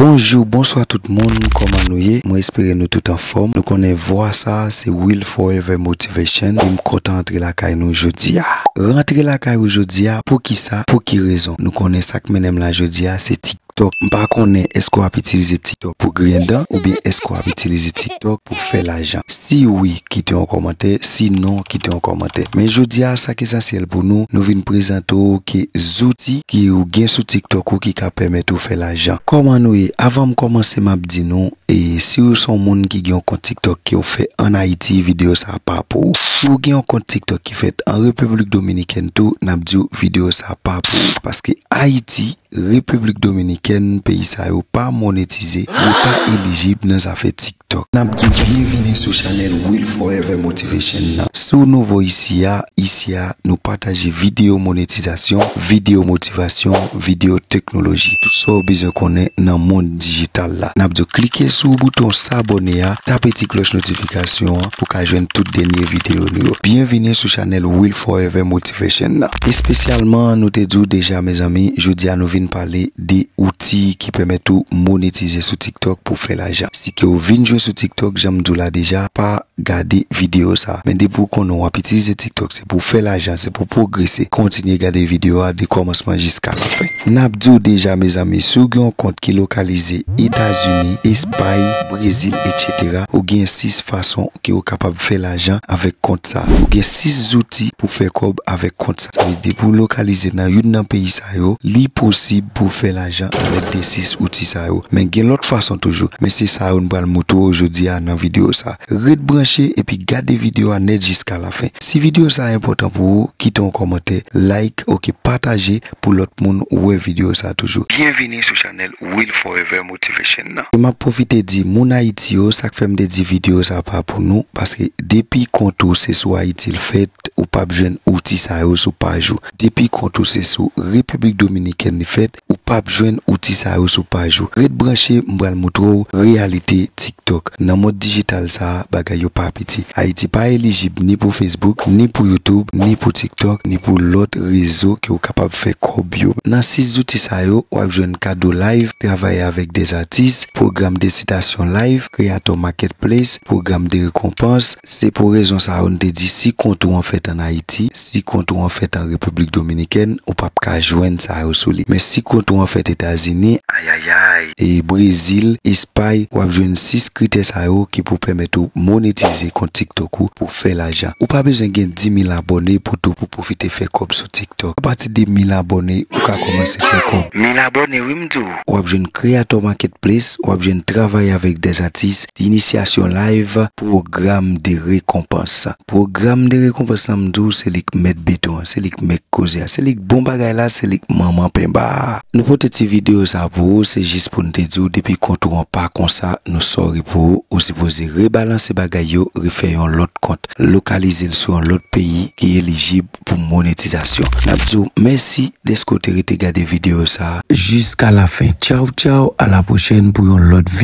Bonjou bonswa tout moun kòman nou ye mwen espere nou tout anfòm nou konnen vwa sa se will forever motivation em kontan antre lakay nou jodia. Rantre lakay ou jodia poukisa pou ki rezon nou konnen sak mennenm la jodia se tiktok m pa konnen eske wap itilize tiktok pou griyen dan oubyen eske wap itilize tiktok pou fè lajan si wi kite yon kòmantè si non kite yon kòmantè men jodia sa ki esansyèl pou nou nou vin prezante w ke zouti ki ou gen sou tiktok ou ki ka pèmèt ou fè lajan kòman nou ye avan m kòmanse m ap di nou e si ou son moun ki gen yon kont tiktok ke w fè an ayiti videyo sa pa pou ou si ou gen yon kont tiktok ki fèt an repiblik dominikèn tou n ap di w videyo sa pa pou ou paske ayiti repiblik dominikèn peyi sa yo pa monetize yo pa elijib nan zafè tik. tiktok. Nap di byen vini sou chanel will forever motivation nan. Si w nouvo isi a, isi a nou pataje videyo monetizasyon, videyo motivasyon, videyo teknoloji, tout sa w bezwen konnen nan mond dijital la. Nap di w klike sou bouton sabone a, tape ti klòch notifikasyon an pou ka jwenn tout dènye videyo nou yo. Byen vini sou chanel will forever motivation nan. Espesyalman nou te di w deja mezanmi, jodi a nou vin pale 2 outi ki pèmèt ou monetize sou tiktok pou fè lajan si ke ou vin jwe sou tiktok janm diw la deja pa gade video sa men depi ou konnen wap itilize tiktok se pou fè lajan se pou pwogrese kontinye gade video a de kòmansman jiska la fen nap diw deja mezanmi si ou gen yon kont ki lokalize etazini espay brezil etc ou gen 6 fason ke ou kapab fè lajan avèk kont. sa. Ou gen 6 zouti pou fè kòb avèk kont sa. Sa vle di depi w lokalize nan youn nan peyi sa yo, li posib pou w fè lajan avèk de 6 outi sa yo. Men gen lòt fason toujou. Men se sa yo n pral moutre w jodi a nan videyo sa. Ret branche epi gade videyo a nèt jiska lafen. Si videyo sa enpòtan pou ou, kite yon kòmantè, like, ok, pataje pou lòt moun wè videyo sa toujou. Byenvini sou chanèl Will Forever. motivation nan. E map profite di moun ayiti yo sak fèm te di video sa pa pou nou paske depi kont ou se sou ayiti l fèt ou pap jwenn outi sa yo sou paj ou depi kont ou se sou repiblik dominikèn li fèt ou pap jwenn outi sa yo sou paj ou ret branche m pral moutre w reyalite ti Donk, nan mond dijital sa a, bagay yo pa piti. Ayiti pa elijib ni pou Facebook, ni pou YouTube, ni pou TikTok, ni pou lòt rezo ke ou kapab fè kòb yo. Nan 6 zouti sa yo, w ap jwenn kado live, travay avèk des atis, pwogram de sitasyon live, kreatò marketplace, pwogram de rekonpans. Se pou rezon sa yo n te di si kont ou an fèt an Ayiti, si kont ou an fèt an Repiblik Dominikèn, ou p ap ka jwenn sa yo sou li. Men si kont ou an fèt Etazini, ayayay! Brezil, Espay, wap jwenn 6 kritè sa yo ki pou pèmèt ou monetize kont TikTok ou pou fè lajan. Ou pa bezwen gen 10.000 abòne pou tou pou pwofite fè kòb sou TikTok. A pati de 1000 abòne ou ka kòmanse fè kòb. 1000 abòne wi m di w. Wap jwenn Creator Marketplace, wap jwenn Travailler avec des artistes, Initiation Live, Pwogram de rekonpans. Pwogram de rekonpans la m di w se li k mèt beton an, se li k mèk koze a, se li k bon bagay la, se li k manman penba a. Nou pote ti video sa pou ou se jis pou n te di w depi kont ou an pa konsa nou sorry pou ou, ou sipoze rebalanse bagay yo refè yon lòt kont, lokalize l sou yon lòt peyi ki elijib pou monetizasyon. N ap di w mèsi dèske w te rete gade video sa. Jiska lafen. Tchaw tchaw a la pwochèn pou yon lòt video.